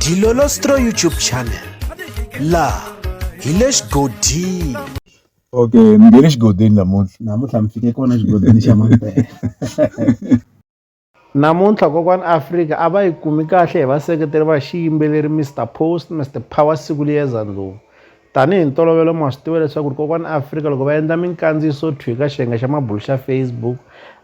Dilolostro YouTube channel la hi le xigodini okay mi nge le xigodini namuntlha namuntlha mi fike kona xigodini xa mampela namuntlha kokwani afrika a va yi kumi kahle hi vaseketeri va xiyimbeleri mr post mr power siku liyeza ndlovu tanihi ntolovelo ma swi tiva leswaku ri kokwani afrika loko va endla minkandziyiso thwi ka xiyenge xa mabulu xa facebook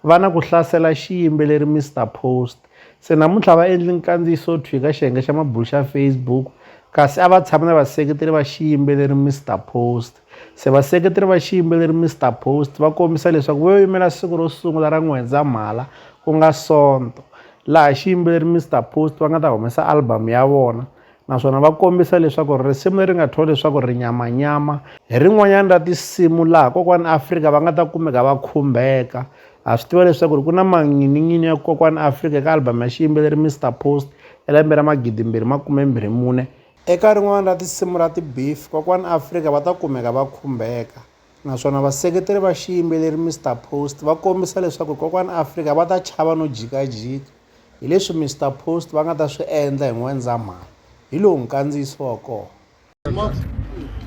va na ku hlasela xiyimbeleri mr post Se namuntlha a va endli nkandziyiso thwi ka xiyenge xa mabulo xa Facebook kasi a va tshama na vaseketeri va xiyimbeleri Mister Post. Se vaseketeri va xiyimbeleri Mister Post va kombisa leswaku vo yimela siku ro sungula ra N'wendzamhala ku nga Sonto laha xiyimbeleri Mister Post va nga ta humesa album ya vona naswona va kombisa leswaku risimu leri nga thyiwa leswaku ri nyamanyama hi rin'wanyana ra tinsimu laha kokwani afrika va nga ta kumeka va khumbeka ha swi tiva leswaku ri ku na manginin'ini ya kokwani afrika eka albhamu ya xiyimbeleri mr post ya lembe ra magidimbirhi makumembirhi mune eka rin'wana ra tinsimu ra tibeef kokwani afrika va ta kumeka va khumbeka naswona vaseketeri va xiyimbeleri mr post va kombisa leswaku kokwani afrika va ta chava no jikajika hi leswi Mister Post va nga ta swi endla hi N'wendzamhala, hi lowu nkandziyiso wa kona.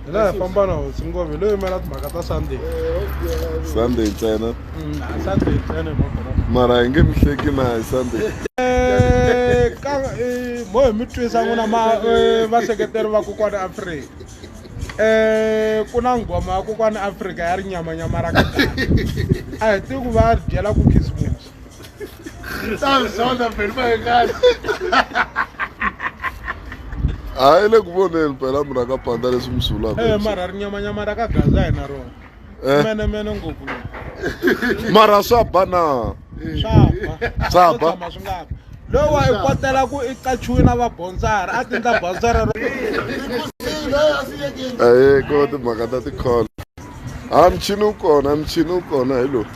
hi la hi famba na hosi ngove hi lo yimela timhaka ta sunday sunday ntsena mm, a sunday ntsena mara hi nge mi hleki na hi sunday eh, eh, mo hi mi twisa n'wina ma eh, vaseketeri va kokwana afrika um ku na nghoma ya kokwana afrika ya ri nyamanyama ra ka a hi tivi ku va byela ku khisimusi a yi le ku voneni phela munhu a ka panda leswi mi swi vulaka Eh, mara ri nyamanyama ra ka gaza hi na rona Eh. menemene ngopfu lowu. mara swa ba na swa ba Swa Swo ba. tshama swi nga ba lowa i kotela ku i qachiwe na vabonsara a tindla bonsara ro aye ko timhaka ta tikholo a michini wu kona michini wu kona hi lowu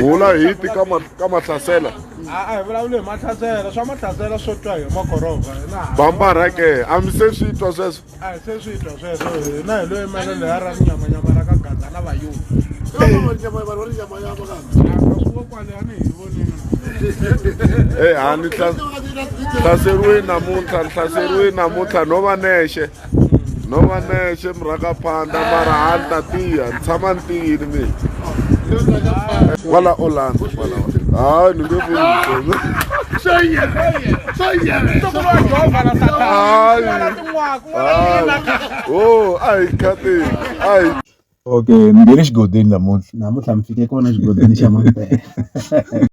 vula hi ti ka ma ka mahlasela a a hi vulavuli hi mahlasela swa mahlasela swo twa hi makorova hina bambara ke a mi se swi twa sweswo a hi se swi twa sweswo hina hi lo yimela leya ra rinyamanyama ra ka gaza na vayuda e hani hlaseriwe namuntlha ni hlaseriwe namuntlha no va nexe no va nexe mi rhaka phanda mara ha ni ta tiya ni tshama ni tiyini mina kwala orlando kwalawa hayi ni nge vuyisona o a hi khateni a hi okay ni nge le xigodini namuntlha namuntlha mi fike kona xigodini xa mampela